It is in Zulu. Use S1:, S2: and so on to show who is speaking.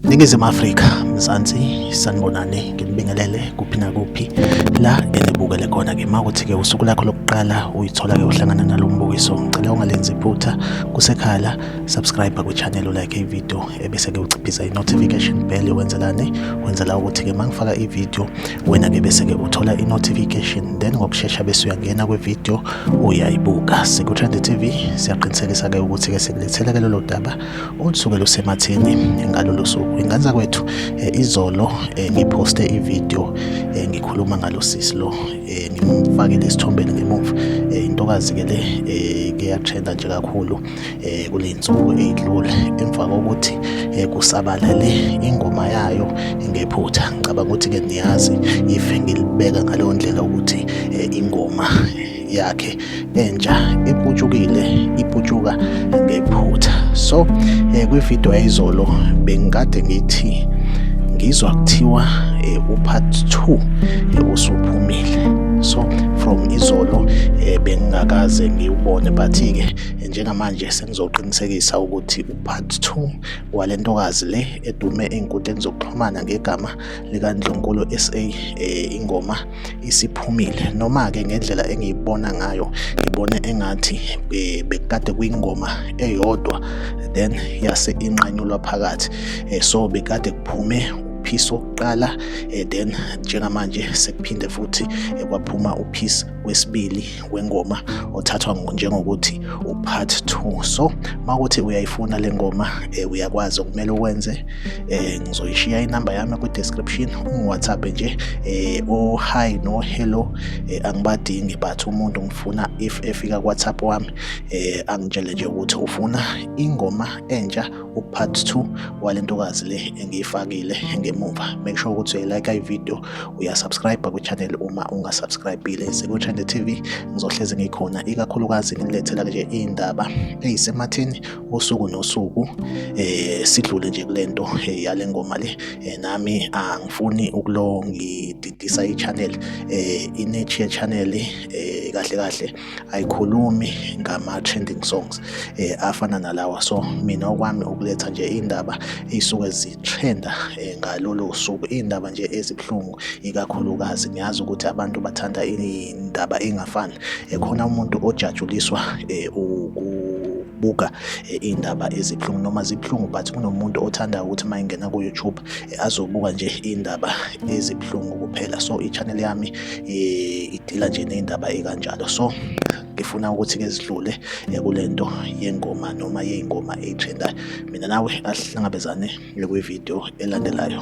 S1: Ningizimu Afrika Mzansi sanibonani nginibingelele kuphi nakuphi la enibukele khona ke makuthi ke usuku lakho lokuqala uyithola ke uhlangana nalo mbukiso ngicela ungalenzi iphutha kusekhala subscribe ku channel like i video ebese ke uciphiza i notification bell wenzelani wenzela ukuthi ke mangifaka i video wena-ke bese-ke uthola i-notification then ngokushesha bese uyangena kwi-video uyayibuka siku-trend tv siyaqinisekisa-ke ukuthi-ke sikulethela-ke lolo daba olusuke lusematheni ngalolo suku ingane zakwethu eh, izolo eh, ngiphoste ivideo eh, ngikhuluma ngalo sisi lo ngimfakile esithombeni ngemuva intokazi-ke le ke yatrenda nje kakhulu eh, kule nsuku eyidlule emva kokuthi eh, kusabalale ingoma yayo ngephutha ngicabanga ukuthi ke niyazi if ngilibeka ngaleyo ndlela ukuthi eh, ingoma yakhe entsha iputshukile iputshuka ngephutha so eh, kwivideo yayizolo bengikade ngithi ngizwa kuthiwa eh, upart 2 eh, usuphumile so from izolo eh, bengingakaze ngiwubone but-ke njengamanje sengizoqinisekisa ukuthi upart 2 wale ntokazi le edume ey'nkundleni zokuxhumana ngegama likandlunkulu sa um eh, ingoma isiphumile noma-ke ngendlela engiyibona ngayo ngibone engathi eh, bekade kwingoma eyodwa then yase inqanyulwa phakathi eh, so bekade kuphume uphisi wokuqala then njengamanje sekuphinde futhi kwaphuma uphisi wesibili wengoma othathwa njengokuthi upart two so uma kuthi uyayifuna le ngoma um uyakwazi okumele ukwenze um ngizoyishiya inamba yami kwi-description ungiwhatsapp nje um o-hi no-hello um angibadingi but umuntu ngifuna if efika kuwhatsapp wami um angitshele nje ukuthi ufuna ingoma entsha upart two wale ntokazi le engiyifakile ngemuva make sure ukuthi uyayilike ivideo uyasubscribe kwichannel uma ungasubscribile sekuTrend TV ngizohlezi ngikhona ikakhulukazi nginilethela nje iy'ndaba ey'sematheni usuku nosuku eh sidlule nje kule nto eh, yale ngoma le eh, nami angifuni ukulo ngididisa ichannel eh inechi channel eh kahle kahle ayikhulumi ngama-trending songs eh, afana nalawa so mina okwami ukuletha nje iy'ndaba ey'suke zithenda eh, ngalolo suku iy'ndaba nje ezibuhlungu ikakhulukazi ngiyazi ukuthi abantu bathanda indaba engafani eh, khona umuntu ojatshuliswa eh, ukubuka eh, iy'ndaba ezibuhlungu noma zibuhlungu but kunomuntu othanda ukuthi uma ingena ku-youtube azobuka nje iy'ndaba ezibuhlungu kuphela so i-channel yami eh, idila nje ney'ndaba ekanjalo so ngifuna ukuthi-ke zidlule eh, kule nto yengoma noma yey'ngoma eyitrendayo mina nawe asihlangabezane kwividiyo elandelayo